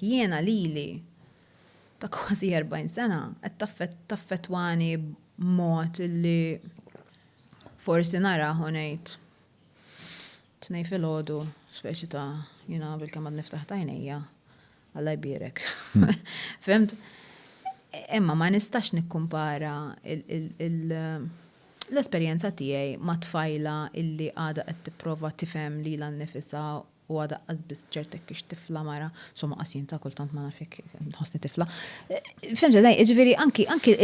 Jiena lili, ta' kważi erbgħin sena, qed taffettwani b'mod li forsi narah u ngħid, Tnejn filgħodu, speċi ta' jiena bilkemm għadni ftaħt għajnejja, Alla jbierek. Fhimt? Imma ma nistax nikkumpara l-esperjenza tiegħi ma' tfajla illi għadha qed tipprova tifhem lilha nnifisha u għad aqqas biss ċert hekk ix tifla mara, somma qas jien ta' kultant ma naf jekk nħossni tifla. Fimx eżaj, jiġifieri anki anki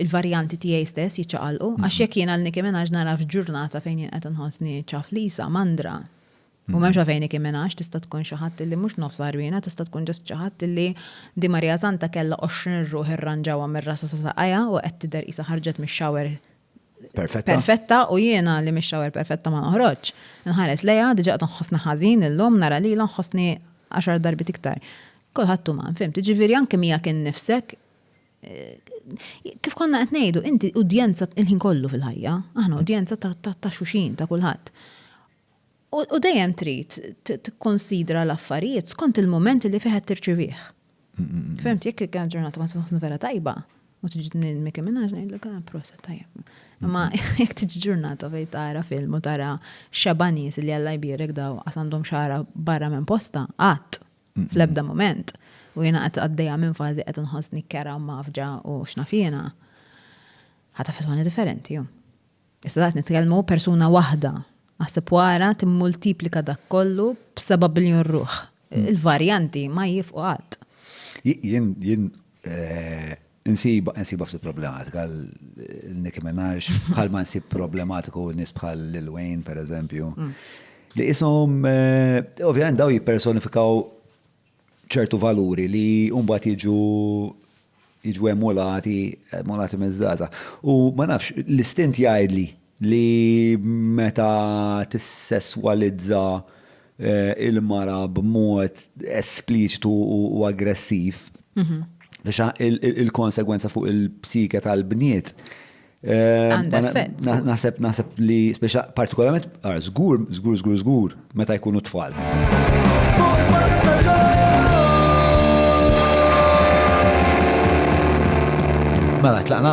il-varjanti tiegħi stess jiċċaqalqu, għax jekk jien għal Nicki Minaj nara f'ġurnata fejn jien qed inħossni ċaflisa, mandra. U m'hemmx għalfejn Nicki Minaj tista' tkun xi ħadd li mhux nofs għarwiena, tista' tkun ġust xi ħadd li Di Maria Santa kellha 20 ruħ irranġawha mir-rasa sa saqajha u qed tidher qisha ħarġet mix-shower perfetta. Perfetta u jiena li mix-xawer perfetta ma noħroġ. Nħares lejha diġà qed nħossni ħażin illum nara lilha nħossni għaxar darbiet iktar. Kulħadd uman, fimt, ġifieri anke miegħek innifsek kif konna qed ngħidu, inti udjenza il-ħin kollu fil-ħajja, aħna udjenza ta' xuxin ta' kulħadd. U dejjem trid tikkonsidra l-affarijiet skont il-mument li fih qed tirċivih. Fehmt, jekk kien ġurnata ma tkun vera tajba, u tiġi minn Mickey Minaj ngħidlek ah, prosa tajjeb. Imma jekk tiġi ġurnata fejn tara film u tara xeba nies li Alla jbierek daw għas għandhom xara barra minn posta, qatt fl-ebda mument. U jiena qed għaddejja minn fażi qed inħossni kera u mafġa u x'naf jiena. Ħata fetwani differenti. Issa daqt nitkellmu persuna waħda. Aħseb wara timmultiplika dak kollu b'seba' biljun ruħ. Hmm. Il-varjanti ma jifqu qatt. Jien jien eh, Nsiba, nsiba ftit problematika, l-Nicki Minaj, bħal ma nsib problematiku nis bħal Lil Wayne, per eżempju. Mm. Li jisom, eh, ovvijament daw jipersonifikaw ċertu valuri li mbagħad jiġu jiġu emulati, emulati miż-żgħażagħ. U ma nafx, l-istint jgħidli li meta tissesswalizza eh, il-mara b'mod espliċitu u aggressiv, mhm. biex il-konsegwenza fuq il-psike tal-bniet Naħseb naħseb li speċa partikolarment għar żgur, żgur, żgur, żgur meta jkunu tfal. Mela, tlaqna?